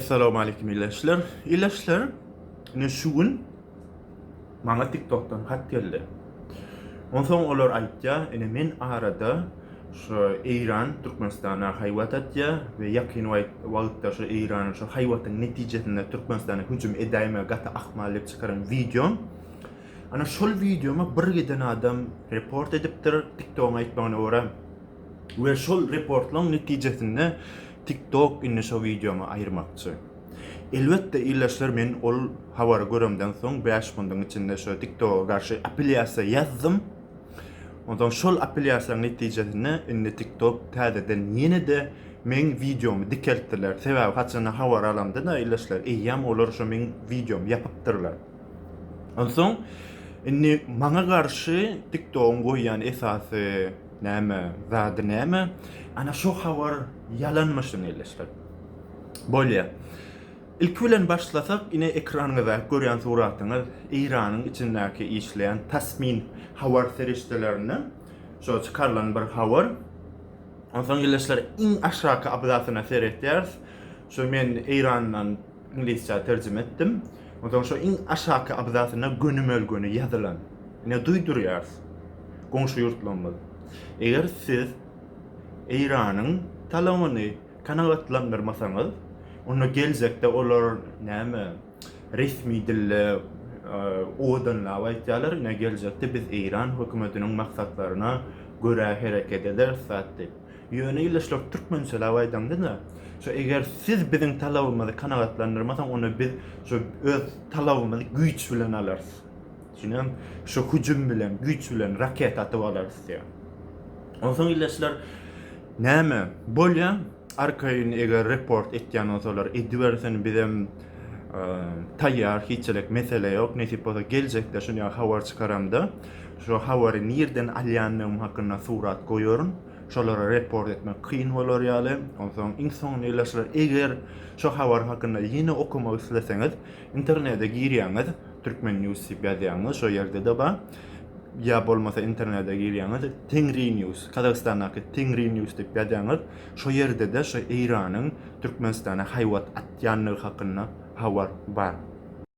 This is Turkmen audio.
Salowmalikim ildeşler ildeşler ine şu gün maňa tiktokdan hat geldi onsoň olar aýtýa ine men arada şu eýran türkmenistana haýwat atýa we ýakyn wagtda şu eýranyň şu haýwatyň netijesinde türkmenistana hüjüm edäýme gaty ahmal diýip çykaran wideom ana şol wideoma bir giden adam report edipdir tiktogyň aýtmagyna görä we şol reportlaň netijesinde Tik tok indi şo wideomy aýyrmakçy. Elbetde ildeşler men ol habary göremden soň bäş kundyň içinde şo tik toga garşy apelýasiýa ýazdym. Onsoň şol apelýasiýaň netijesinde indi tik tok täzeden ýene-de meň wideomy dikeltdiler. Sebäbi haçanda habar alamda-da ildeşler eýýäm olar şo meň wideomy ýapypdyrlar. Onsoň indi maňa garşy tik togyň goýýan esasy Näme, zady näme? Ana şo habar ýalanmyşyn elleşdir. Bolýa. Ilki bilen başlasak, ine ekranyňyzdaky görýän suratyňyz Eýranyň içindäki işleýän Tasmin habar serişdelerinden şo çykarylan bir habar. Onsoň elleşdir iň aşaky abzasyna seretýäris. Şo men Eýrandan Iňlisçä terjime etdim. Onsoň şo iň aşaky abzasynda gönümel-göni ýazylan. Ine duýdurýarys. Goňşy ýurtlarymyz. Eger siz Eýranyň talabyny kanagatlandyrmasaňyz, onda geljekde olar näme, resmi dilde owadanlap aýtýarlar, ine geljekde biz Eýran hökümetiniň maksatlaryna görä hereket ederis zat diýip. Ýöne ildeşler türkmen söylap aýdamda-da, şo eger siz biziň talabymyzy kanagatlandyrmasaň, onda biz şo öz talabymyzy güýç bilen alarys. Düşünýäňmi? Şo hüjüm bilen, güýç bilen raketa atyp alarys diýýär. Onsoň ildeşler näme? Bolýa, arkaýyn eger report etýän bolsalar edibersin, bizem taýýar, hiçlik mesele ýok. Nesip bolsa geljekde şun ýaly habar çykaramda, şo habary nirden alýandygym hakynda surat goýaryn. Şolara report etmek kyn bolar ýaly. Onsoň iň soňunda ilaçlar eger şu habar hakynda ýene okamak isleseňiz internede girýäňiz Türkmen news diýip ýazýaňyz şo ýerde-de bar. Ýa bolmasa internede girýäňiz Tengri news Kazagystandaky Tengri news diýip ýazýaňyz şo ýerde-de şu Eýranyň Türkmenistana haýbat atýandygy hakynda habar bar.